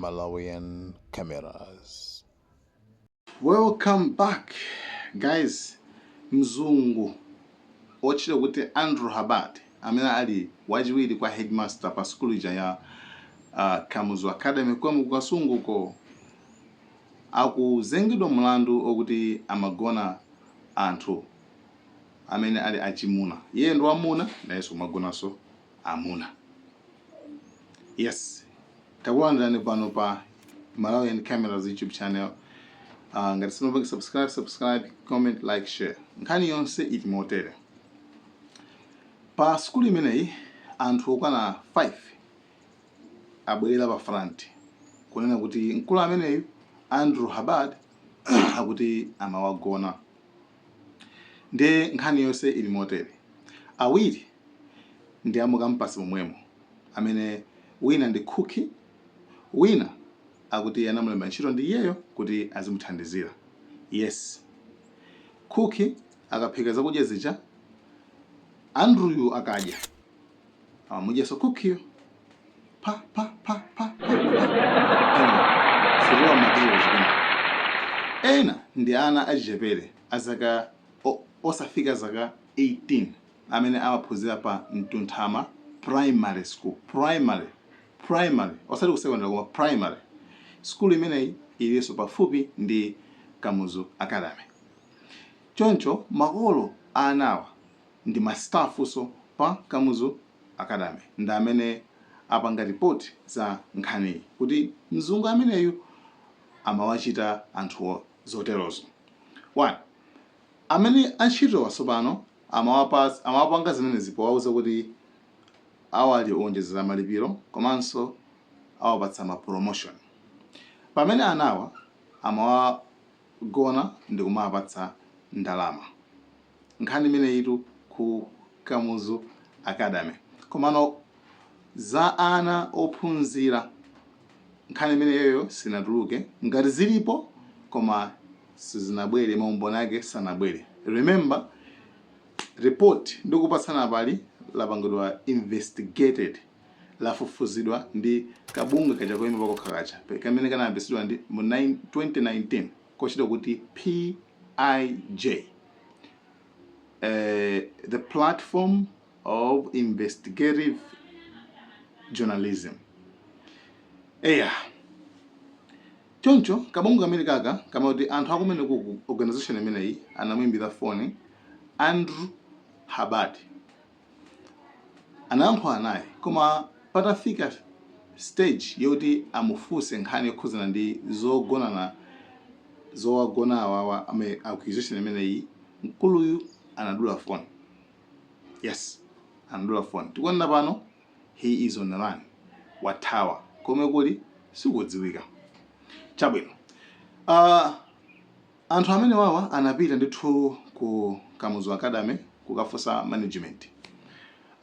Malawian cameras. Welcome back guys. Mzungu ochita kuti Andrew Habad amene ali wachiwiri kwa headmaster pa sukulu ija ya uh, Kamuzu Academy ku Kasunguko Akuzengedwa mlandu okuti amagona anthu amene ali achimuna. Iye ndi wamuna nayenso kumagonanso amuna. Yes. Takulandirani pano pa Malawian Cameras YouTube channel. Uh, ngati simunapange subscribe, subscribe, comment, like, share. Nkhani yonse ili motere. Pa sukulu imeneyi anthu okwana 5 abwerera pa front kunena kuti mkulu ameneyu Andrew Habad akuti amawagona nde nkhani yonse ili motere awiri ndi amukampasi momwemo amene wina ndi khukhi wina akuti anamulemba ntchito ndi iyeyo kuti azimuthandizira yes khukhi akaphika zakudya zija Andrewyu akadya Amamudyanso khukhiyo. Pa pa pa pa pa. Sirwa magiro jibin. Ena ndi ana achichepere azaka osafika zaka 18 amene amaphunzira pa Mtunthama Primary School. Primary primary osati ku secondary koma primary. Sukulu imeneyi ilinso pafupi ndi Kamuzu Academy. Choncho makolo a anawa ndi ma staffnso pa Kamuzu Academy ndi amene apanga report za nkhaniyi kuti mzungu ameneyu amawachita anthu zoterozo 1 amene antchitowa tsopano amawapanga zimenezi powauza kuti awaonjezera malipiro komanso awapatsa ma promotion pamene anawa amawagona ndikumawapatsa ndalama. nkhani imeneyitu ku Kamuzu Academy. Komano za ana ophunzira nkhani imeneyo iyo sinatuluke, ngati zilipo koma sizinabwere, maumboni ake sanabwere. Remember report ndikupatsani apali lapangidwa investigated, lafufuzidwa ndi kabungwe kaja koima pakokha kaja kamene kanayambitsidwa mu 2019. kochita kuti PIJ, eh, the platform of investigative journalism eya choncho kabungwe kamene kaka kamaa kuti anthu akumene ku organization imeneyi anamuimbira foni Andrew Hubbard Anayankhula naye koma patafika stage yoti amufunse nkhani yokhudzana ndi zogonana zowagona awawa amene accusation imeneyi mkuluyu anadula phone. Yes anadula phone tikunena pano he is on run wathawa komwe ali sikudziwika. Chabwino aah. Anthu amenewawa anapita ndithu ku Kamuzu Academy kukafunsa management.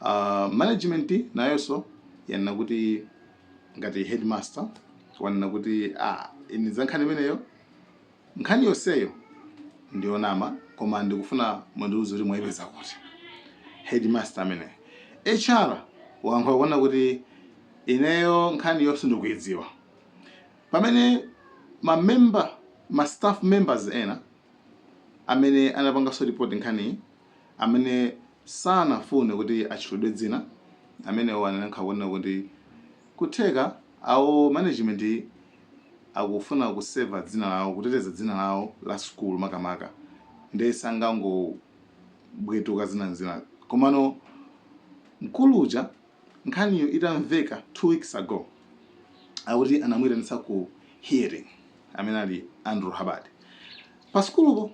Aaa management nayonso yanena kuti ngati headmaster wanena kuti aah ine za nkhani imeneyo nkhani yonseyo ndiyonama koma ndikufuna mundiuze kuti mwaipeza kuti. Headmaster ameneyo. HR wayankhula kunena kuti ineyo nkhaniyo sindikuidziwa. Pamene ma member, ma staff members ena amene anapangaso report nkhaniyi amene sanafune kuti atchulidwe dzina amenewo anayankhula kunena kuti kutheka awo management akufuna kuseva dzina lawo, kuteteza dzina lawo la sukulu makamaka nde sangangobwetuka zina n'zina komano mkulu uja Nkhaniyo itamveka 2 weeks ago akuti anamuitanitsa ku hearing amene ali Andrew Hubbard pa sukulupo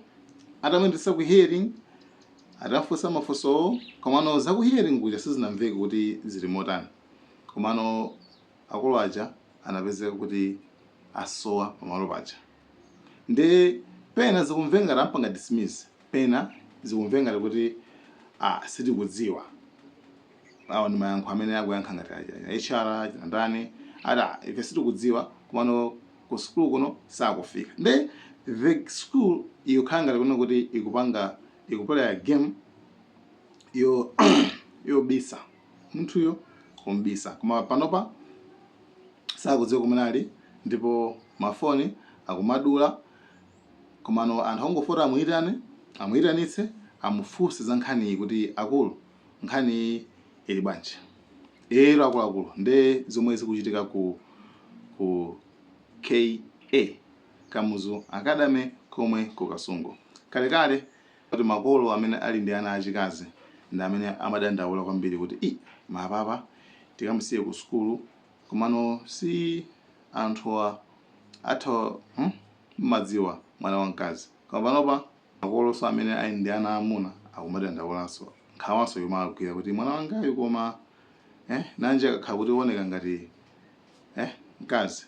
atamuitanitsa ku hearing atafunsa mafunsowo komano za ku hearing kuja sizinamveka kuti zili motani komano akulu aja anapezeka kuti asowa pamalo paja nde pena zikumveka ngati amupanga dismiss pena zikumveka ngati kuti ah sitikudziwa. awo ndi mayankho amene akuyankha ngati aja hr chinachani ati "Ah, ife sitikudziwa komano ku sukulu kuno sakufika nde the school ikukhala ngati kunena kuti ikupanga ikupuleya game yo yobisa munthuyo kumbisa koma panopa sakudziwa kumene ali ndipo mafoni akumadula komano anthu angofuna amuyitane amuyitanitse amufunse za nkhaniyi kuti akulu nkhaniyi ili bwanji lero akuluakulu nde zomwe zikuchitika ku ku ka kamuzu Academy komwe ku Kasungu kalekale kuti makolo amene ali ndi ana achikazi ndi amene amadandaula kwambiri kuti i mapapa tikamusiye ku sukulu komano si anthuwa atha hmm? mmadziwa mwana wamkazi koma panopa Makolonso amene ali ndi ana aamuna akumadandaulanso, nkhawanso ikumawagwira kuti, Mwana wangayu koma eh, nanji akakhala kuti wooneka ngati eh, mkazi.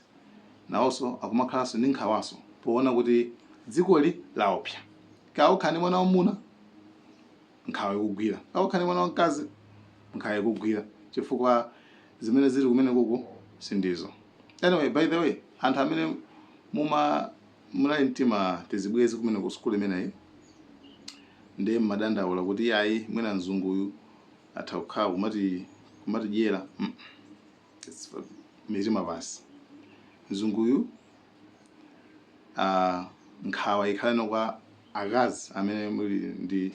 Nawonso akumakhalanso ndi nkhawanso poona kuti dzikoli laopsa. Kaya ukhala ndi mwana wamwamuna, nkhawa ikugwira. Kaya ukhala ndi mwana wamkazi, nkhawa ikugwira chifukwa zimene zili kumenekuku si ndizo. Anyway, by the way, anthu amene muma. muli ndi tima tizibwenzi kumeneko ku sukulu imeneyi ndiye mmadandaula kuti ayi mwina mzunguyu atha kukhala kumati kumatidyera mm. mitima pansi mzunguyu uh, nkhawa ikhaleno kwa akazi amene muli ndi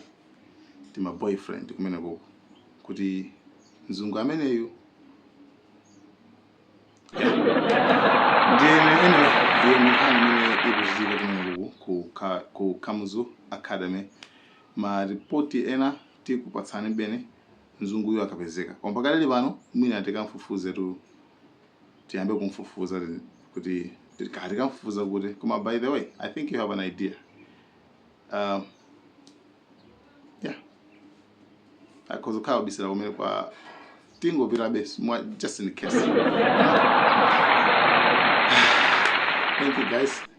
tima boyfriend kumenekuko kuti mzungu ameneyu Ndi imeneyo ndiye ndi nkhani imene ikuchitika kumenekuku ku ka ku Kamuzu Academy ma report ena tikupatsanibeni mzunguyu akapezeka koma pakadali pano mwina tikamfufuzetu tiyambe kumfufuza kuti kaya tikamfufuza kuti koma by the way I think you have an idea um, yeah akhoza kukhala wabisala kumeneko tingopitabe mwa- just in case thank you guys